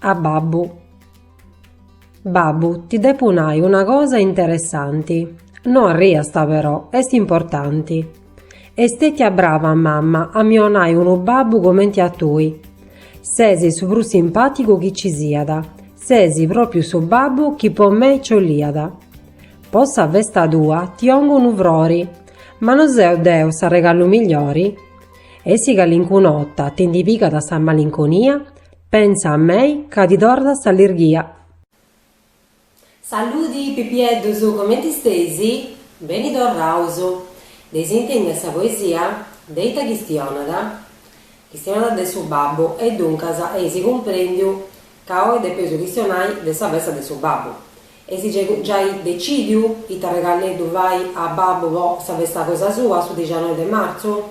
A babbu. Babbu, ti depu nai una cosa interessanti. No arriast però, est importanti. Est stètia brava mamma a mi 'onai unu babbu comenti a tui. Ses su prus simpàtigu chi ci siat, ses pròpriu su babbu chi po mei ci 'oliat. Po sa festa tua ti 'ongu unu frori. Ma no seu deu s'arregalu migliore? E si calincuna 'ota ti ndi pigat sa malinconia, pensa a mei ca ti torrat s'allerghia. Saludi Pipieddus, comenti steis? Beni torraus! Dd'eis intèndia sa poesia? De ita chistionat? Chistionat de su babbu e duncas eis cumprendiu ca oi depeus chistionai de sa festa de su babbu. Eis giai decìdiu ita regaleddu fai a babbu po sa festa cosa sua, su dixanoi de martzu?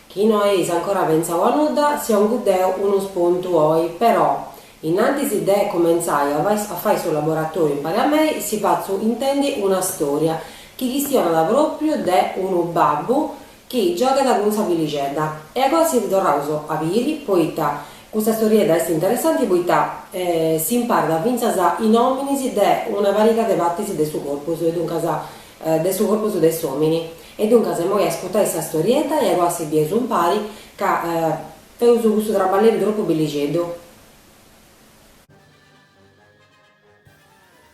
Chi no eis ancora pentzau a nudda, si 'ongu deu unu spuntu oi, però, in antis de cumentzai a fai su laboratoriu impari a mei, si fatzu intendi una storia chi chistionat propriu de unu babbu chi giogat cun sa fillixedda e agoa si torraus a biri poita custa storiedda est interessanti poita s'imparat fintzas is nòminis de una pariga de partis de su corpus e duncas de su corpus de s'òmini e duncas imoi ascurtais sa storiedda e agoa si bieus umpari ca feus cussu traballeddu tropu bellixeddu.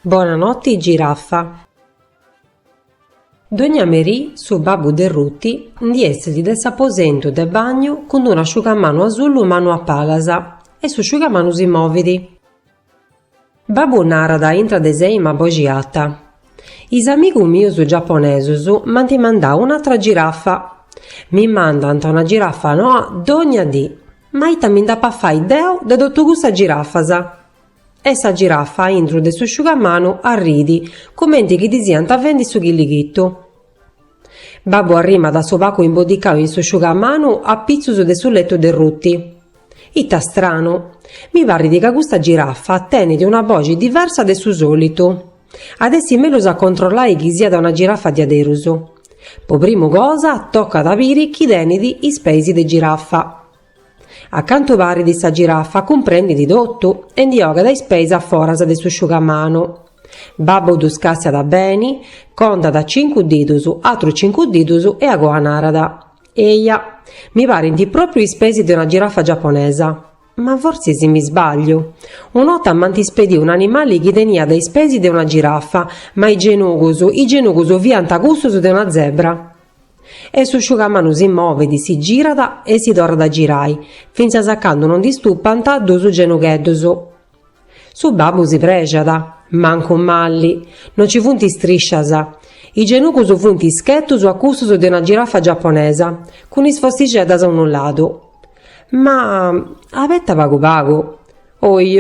Bona noti Giraffa. Dogna merì su babbu de Ruti ndi essit de s'aposentu de bagnu cun unu asciugamanu asullu mannu a palas e s'asciugamanu si movit. Babbu narat intra de sei ma a boxi arta, Is amigus mius giaponesus m'ant mandau un'atra girafa. Mi mandant una girafa noa dogna dì, ma ita mi nd'apu a fai deu de totu cussas girafas? E sa girafa a intru de s'asciugamanu arrit, comenti chi ddi siant faendi su chillighitu. Babbu arrimat su pacu imbodicau in s'asciugamanu a pitzus de su letu de Ruti. Ita stranu! Mi parit ca custa girafa tenit una boxi diversa de su solitu. At essi mellus a controllai chi siat una girafa diaderus. Po prima cosa tocat a biri chi tenit is peis de girafa. A cantu parit sa girafa cumprendit totu e ndi 'ogat is peis a foras de s'asciugamanu. Babbu ddus càstiat beni, contat cincu didus, atrus cincu didus e agoa narat, Eia, mi parint pròpriu is peis de una girafa giaponesa. Ma fortzis mi sbagliu. Una 'orta m'ant ispediu un'animali chi teniat is peis de una girafa, ma is genugus, is genugus fiant cussus de una zebra. E su sciugamanu si movit, si girat e si torrat a girai, fintzas a candu non ndi stupant duus genugheddos. Su babbu si prexat, mancu mali, non ci funt istriscias. Is genugus funt ischettus a cussus de una girafa giaponesa, cun is fossixeddas a unu ladu. Ma, abeta pagu pagu, Oi,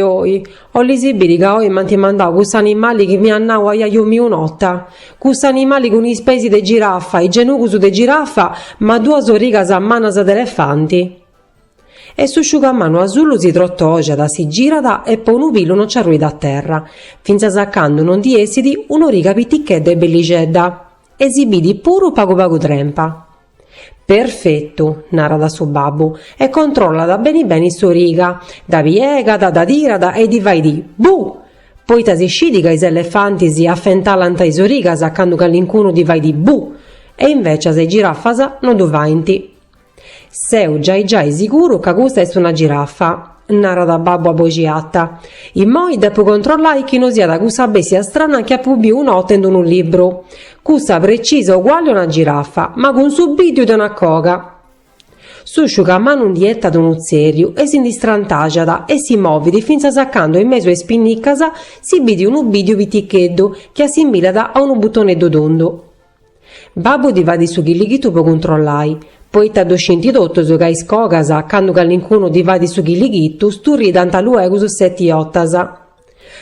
'olis biri ca oi m'ant mandau cuss'animali chi m'iat nau ajaju miu un'ota? Cuss'animali cun is peis de girafa, is genugus de girafa, ma duas origas mannas de elefanti. E su sciugamanu asullu si trotoxat, si girat e po unu pilu no nci arruit a terra, fintzas a candu no ndi essit un'origa pitichedda e bellixedda e si bidit puru pagu pagu trempa. Perfetu, narat su babbu, e controllat beni beni s'origa, dda piegat, dda tirat e ddi fait Bù! Poita si scit ca is elefantis sbentulant is origas candu calincunu ddi fait Bù! e invecias is girafas no ddu faint. Seu giai giai siguru ca custa est una girafa. narat babbu a boxi arta, immoi depu controllai chi no siat cussa bèstia strana chi apu biu un'ota in unu libru, cussa precisa uguali a una girafa, ma cun su bìddiu de una coga. Su sciugamanu ndi 'etat unu tzèrriu e si ndi strantaxat e si movit fintzas a candu in mesu 'e is pinnicas si bidit unu bìddiu piticheddu chi assimilat a unu butoneddu tundu. Babbu ddi fait su chilighitu po cuntrollai, poita ddu scinti totus ca is cogas, candu calincunu ddi fait su chilighitu, sturridant luegus seti otas.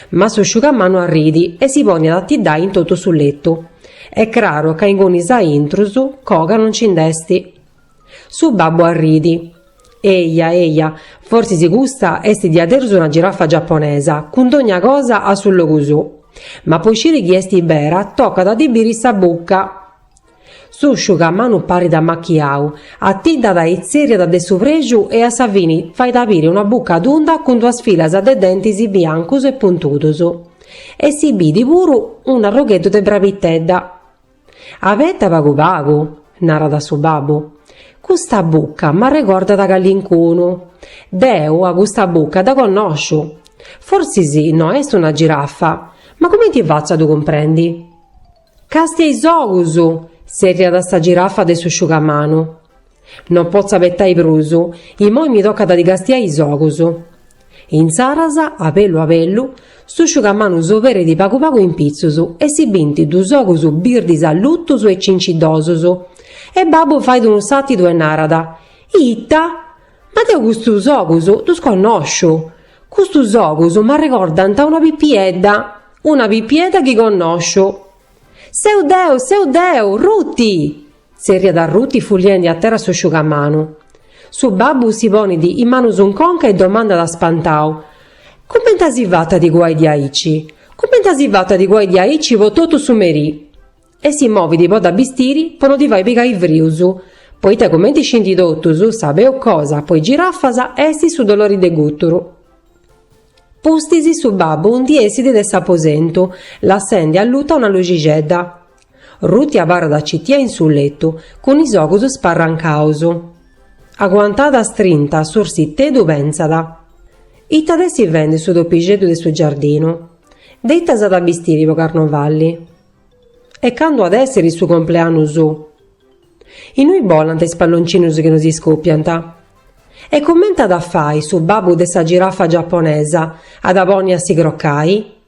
Ma su sciugamanu arrit e si ponit a atiddai in totu su letu. Est craru ca ingunis aintrus, coga non nci nd'est. Su babbu arrit. Eja, eja, forsis custa est diaderus una girafa giaponesa, cun dogna cosa a su logu suu. Ma po sciri chi est bera tocat a ddi biri sa bucca. Su sciugamanu parit ammachiau, atiddat e itzerriat de su prexu e a sa fini fait a biri una bucca tunda cun duas filas de dentis biancus e puntudus. E si bidit puru un'arrogheddu de brabitedda. Abeta pagu pagu, narat su babbu, custa bucca m'arregordat a calincunu. Deu a custa bucca dda connosciu. Forsis no est una giraffa, ma cumenti fatzu a ddu cumprendi? Càstia is ogus! tzerriat sa giraffa de su sciugamanu. Non potzo abetai prus. Imoi mi tocat a ddi castiai is ogus. Insaras, a bellu a bellu, su sciugamanu s'oberit pagu pagu in pitzus e si bint duus ogus birdis allutus e cinciddosus. E babbu fait unu sàrtidu e narat, Ita! Ma deu custus ogus ddus connosciu! Custus ogus m'arregordant a una pipiedda, una pipiedda chi connosciu! Seu deu, seu deu, Ruti! Zerriat Ruti fuliendi a terra s'osciugamanu. Su babbu si ponit is manus in conca e domandat spantau, Cumenti as fatu a ti cuai diaici? Cumenti as fatu a ti cuai diaici po totu su merì? E si movit po dda bistiri po no ddi fai pigai frius, poita cumenti scinti totus, sa peus cosa po is girafas est su dolori de guturu. Pustis su babbu ndi essit de s'aposentu, lassendi alluta una luxixedda. Ruti abarrat citia in su letu, cun is ogus sparrancaus. Aguantada strinta a s'ursiteddu pentzat. Ita at a essi fendi su topixeddu de su giardinu? De ita s'at a bistiri po carnovalli? E candu at essiri su compleannu su? Innui bolant is palloncinus chi no si scopiant? E comenti at a fai su babbu de sa girafa giaponesa, a dda ponni a si crocai?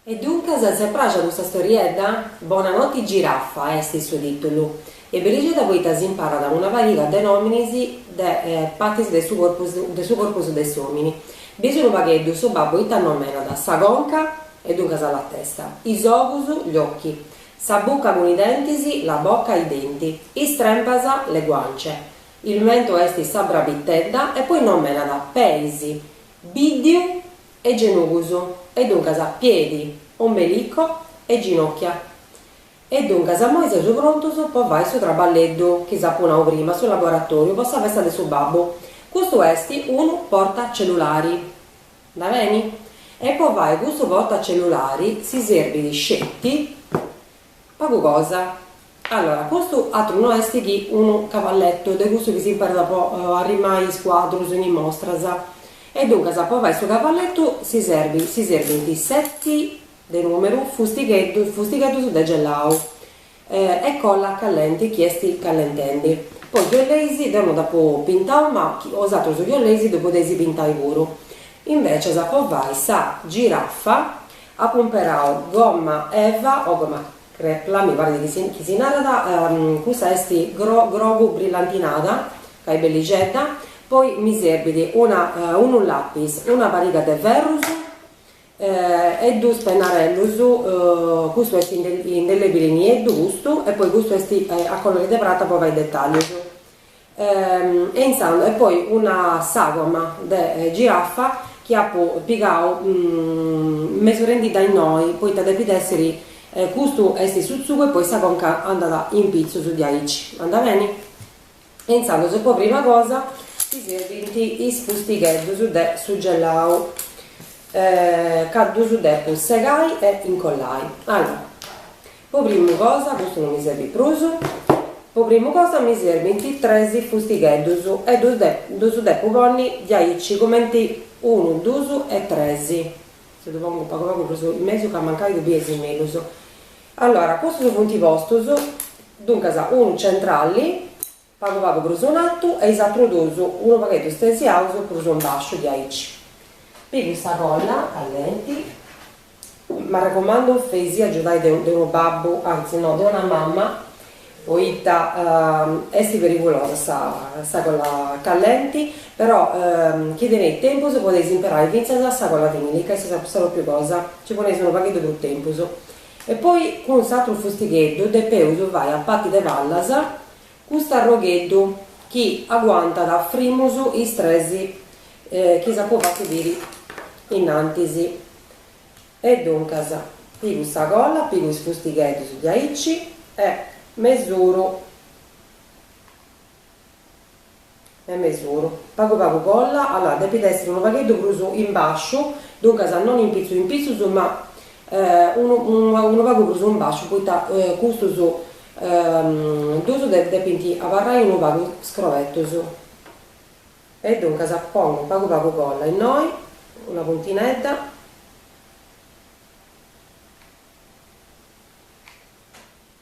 E duncas s'est praxia custa storiedda? Bona noti Giraffa est su titulu est bellixedda poita si imparat una pariga de nominis de patis de su corpus de su corpus de s'omini. Bieus unu pagheddu, su babbu ita nomenat, sa conca, e duncas la testa, is ogus, gli occhi, sa bucca cun is dentis, la bocca, i denti, is trempas, le guance, il mento est sa brabittedda e poi nomenat peis, biddiu, e genugus, e duncas piedi, ombelico e ginocchia. E duncas immoi seus prontus po fai su traballeddu chi s'apu nau prima, su laboratoriu po sa festa de su babbu. Custu esti unu portacellulari. Andat beni? E po fai custu portacellulari si serbit sceti. Pagu cosa. Allora, custu atru no est chi unu cavalletto de cussu chi s'imperat po arrimai is cuadrus in is mostras. E duncas, po fai su cavallettu si serbint, si serbint seti, de numeru, fustigheddus, fustigheddus de gellau e colla callenti chi est callentendi. Poi chi oleis deu no dd'apu pintau, ma osatrus chi oleis ddu podeis pintai puru. Invecias, po fai sa giraffa, Apu imperau gomma eva o gomma crepla, mi parit chi si chi si narat, cussa est gro grogu brillantinada ca est bellixedda, poi mi serbit una unu lapis, una pariga de ferrus e duus pennarellus, custu est indelebili nieddu custu e poi custu est a colori de prata po fai dettaglius E intzando, e poi una sagoma de giraffa chi apu pigau mesurendidda innoi, poita depit essiri, custu est su tzugu e poi sa conca andat in pitzus diaici, andat beni? E intzandus, po prima cosa, si serbint is fustigheddus de su gelau, ca ddus depu segai e incollai. Allora Po primu cosa custu no mi serbit prus, po primu cosa mi serbint tres fustigheddus e ddus ddus depu ponni diaici cumenti unu dus e tres, si ddu pongu pagu pagu prus in mesu ca mancai ddu biesi mellus, allora custus funt postus, duncas unu centrali pagu pagu prus in artu e is atrus dus unu pagheddu stesiaus prus in basciu diaici. Pigu sa colla callenti, m'arrecomandu feisi agiudai de unu babbu, anzi no, de una mamma, poita esti perigulosa sa sa colla callenti, però chi tenit tempus podeis imperai fintzas sa colla vinìlica ca est sa propriu cosa, ci poneis unu pagheddu prus tempus. E poi cun s'atru fustigheddu depeus fai sa parti de pallas, Custu arrogheddu chi aguantat frimus is tres chi s'apu fatu biri innantis. E duncas pigu sa colla, pigu is fustigheddus diaici e mesuru. e mesuru, pagu pagu colla, allora depit esser unu pagheddu prus in basciu, duncas non in pitzus in pitzus ma unu unu pagu prus in basciu poita custus dus depint abarrai unu pagu scrobetus e duncas pongu pagu pagu colla innoi, una puntinedda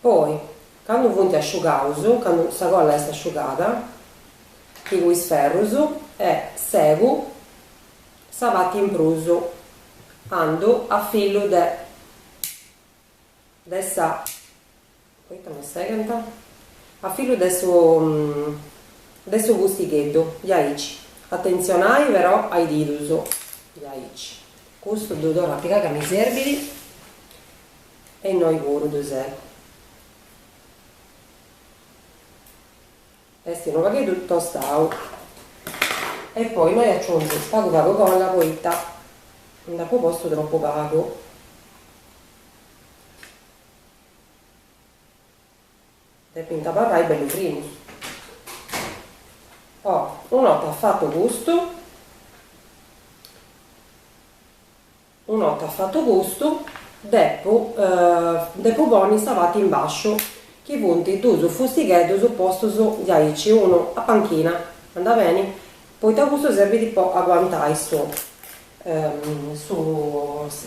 Poi, candu funt asciugaus, candu sa colla est asciugada, pigu is ferrus e segu sa parti in prus andu a filu de de sa. Poita no segant? A filu de su de su fustigheddu, diaici. Atentzionai però a is didus, diaici. Custu ddu torru a pigai ca mi serbit e innoi puru ddu segu. Est unu pagheddu tostau. E poi innoi aciungu pagu pagu colla poita nd'apu postu tropu pagu. Depint abarrai bellu firmu. Oh, una 'orta fatu custu, una 'orta fatu custu, depu depu ponni sa parti in basciu, chi funt duus fustigheddus postus diaici, unu a panchina, andat beni? Poita custu serbit po aguantai su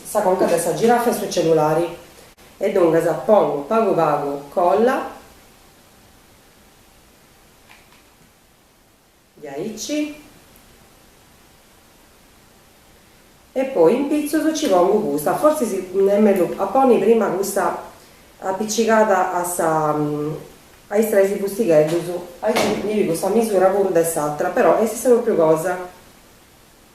sa conca de sa girafa in su cellulari e duncas pongu pagu pagu colla diaici e poi in pitzus ci pongu custa forsis est mellus a ponni prima custa apicigada a is tres fustigheddus aici mi pigu sa misura puru de s'atra però est sa pròpriu cosa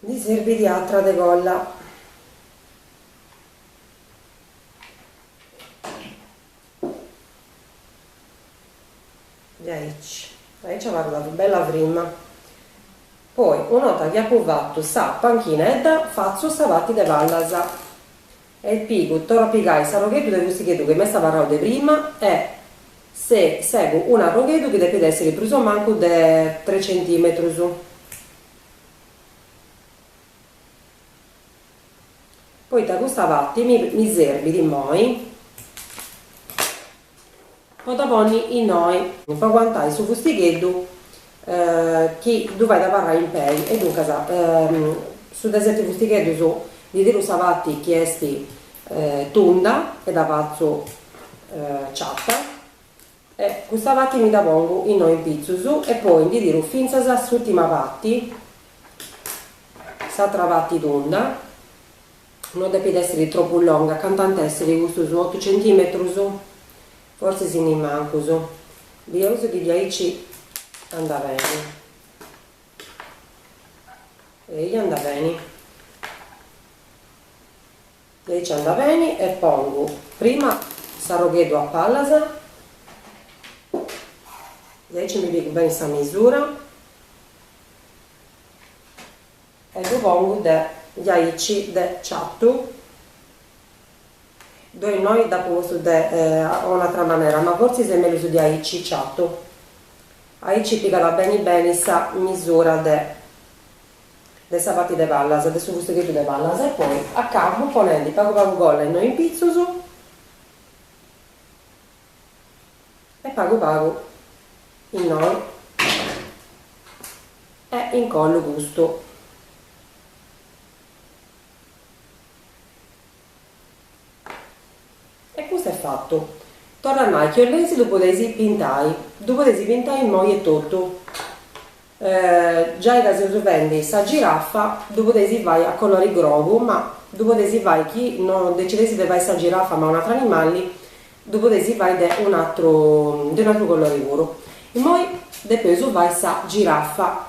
Ndi sirbit atra de colla. Diaici abarrat bella frima. Poi una 'orta chi apu fatu sa panchinedda fatzu sa parti de pallas e pigu, torru a pigai s'arrogheddu de fustigheddu chi m'est abarrau de prima e segu un'arrogheddu chi depit essiri prus o mancu de tres centimetrus. Poita custa parti mi serbit immoi po dda ponni innoi. Po aguantai su fustigheddu chi ddu fait abarrai in pei e duncas su de seti fustigheddus ndi tiru sa parti chi est tunda e dda fatzu ciatta E custa parti mi dda pongu innoi pitzus e poi ndi tiru fintzas a s'ùrtima parti, s'àtra parti tunda, no depit èssiri tropu longa, cantu ant a èssiri custus otu centìmetrus, forsis ni mancus, bieus chi diaici andat beni, eia andat beni. Aici anda beni e pongu prima s'arrogheddu a pallas e aici mi pigu beni sa misura e ddu pongu de aici de ciatu poi innoi dd'apu postu de un'atra manera ma fortzis est mellus de aici ciatu aici pigat beni beni sa misura de de sa parti de pallas, de su fustigheddu de pallas e poi acabu ponendi pagu pagu colla innoi in pitzus e pagu pagu innoi e incollu custu. E custu est fatu. Torra chi 'oleis ddu podeis pintai, ddu podeis pintai immoi etotu. Giai ca seu fendi sa girafa ddu podeis fai a colori grogu, ma ddu podeis fai chi non decideis de fai sa girafa ma un'atru animali, ddu podeis fai de un'atru de un'atru colori puru. Immoi depeus fai sa girafa.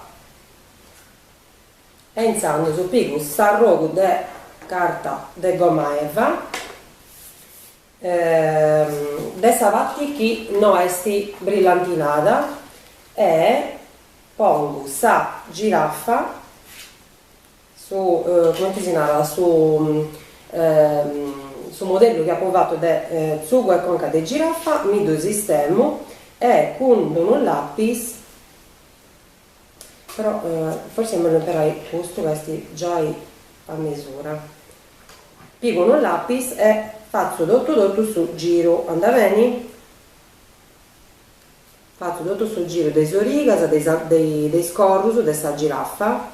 e intzandus pigu s'arrogu de carta de goma eva de sa parti chi no est brillantinada e pongu sa girafa su cumenti si narat su su modellu chi apu fatu de tzugu e conca de girafa mi ddu sistemu e cun unu lapis Però forsi est mellus imperai custu ca est giai a mesura. Pigu unu lapis e fatzu totu totu su giru, anda beni? Fatzu totu su giru de is origas, de is corrus de sa girafa.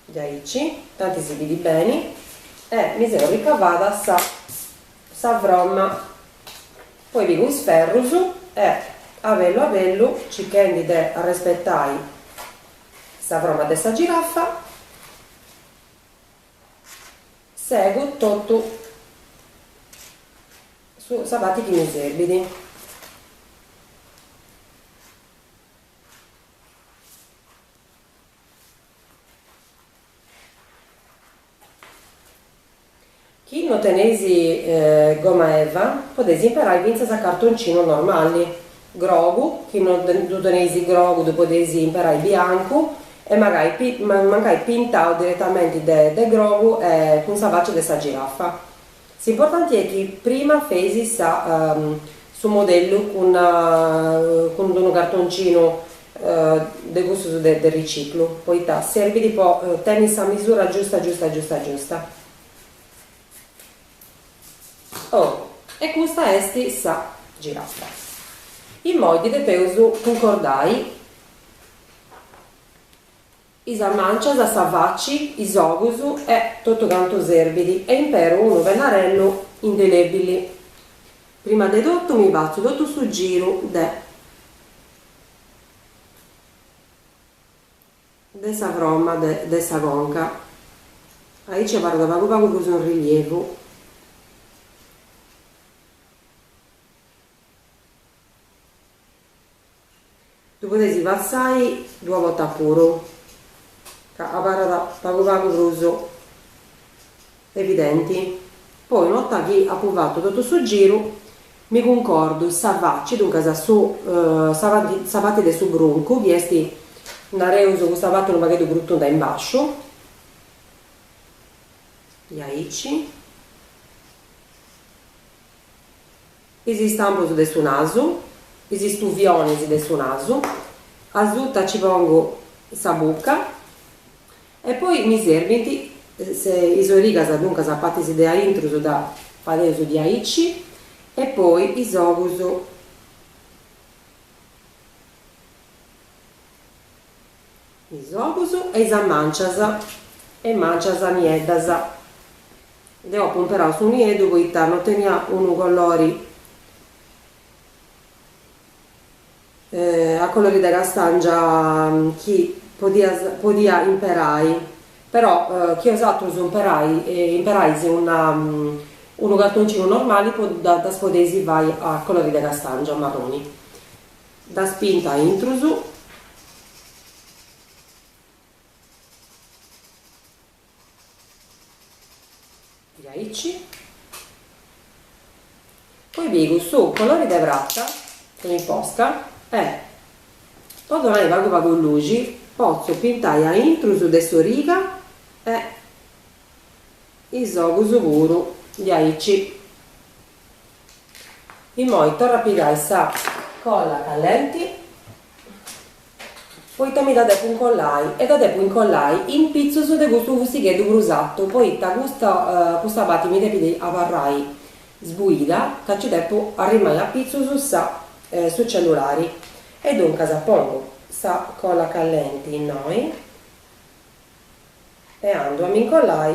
Diaici, tanti si bidit beni, e mi seu ricavada sa sa fromma, poi pigu is ferrus e abellu abellu, circhendi de arrespetai sa fromma de sa giraffa, segu totu su sa parti chi mi serbidi. Chi no teneis goma eva, podeis imperai fintzas a cartoncinu normali. Grogu, chi no ddu teneis grogu ddu podeis imperai biancu e magai mancai pintau diretamenti de grogu e cun sa fàcia de sa girafa. S'importanti est chi prima feis sa su modellu cun cun unu cartoncinu de custus de de riciclu poita serbit po tenni sa misura giusta giusta giusta giusta. Oh e custa est sa giraffa. Immoi dda depeus cuncordai. is mancias, sa faci, is ogus e totu cantu serbit e imperu unu pennarellu indelebili. Prima de totu mi fatzu totu su giru de de sa fromma de de sa conca, aici abarrat pagu pagu prus in rilievu, Ddu podeis passai duas bortas puru, ca abarrat pagu pagu prus evidenti. Poi una 'orta chi apu fatu totu su giru mi cuncordu sa faci, duncas su sa parti sa parti de su bruncu chi esti nareus custa parti unu pagheddu prus tunda in basciu, diaici. Is istampus de su nasu. Is istuvionis de su nasu. Asuta ci pongu sa bucca e poi mi serbint is origas, duncas a partis de aintrus ddas fadeus diaici e poi is ogus. is ogus e is mancias, is mancias nieddas. Deu apu imperau su nieddu poita no tenia unu colori a colori de castangia chi podia imperai però chi osatrus imperais unu cartoncinu normali ddas podeis fai a colori de castangia marroni Ddas pintu a intrus. Diaici. Poi pigu su colori de prata e, po donai pagu pagu luxi, potzu pintai a intrus de s'origa e is ogus puru diaici. Imoi torru a pigai sa colla callenti poita mi dda depu incollai e dda depu incollai in pitzus de custu fustigheddu prus atu poita custa parti mi depit abarrai sbuida ca nci depu arrimai a pitzus sa su cellulari e duncas pongu sa colla callenti innoi e andu a mi incollai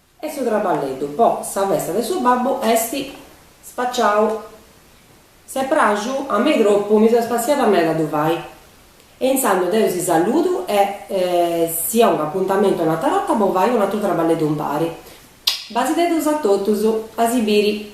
E su traballeddu po sa festa de su babbu est spaciau. S'est praxu a mei tropu, mi seu spassiada meda a ddu fai. E intzandus deu si saludu e si ongu apuntamentu un'atra orta po fai un'atru traballeddu impari. Basideddus a totus, a si biri.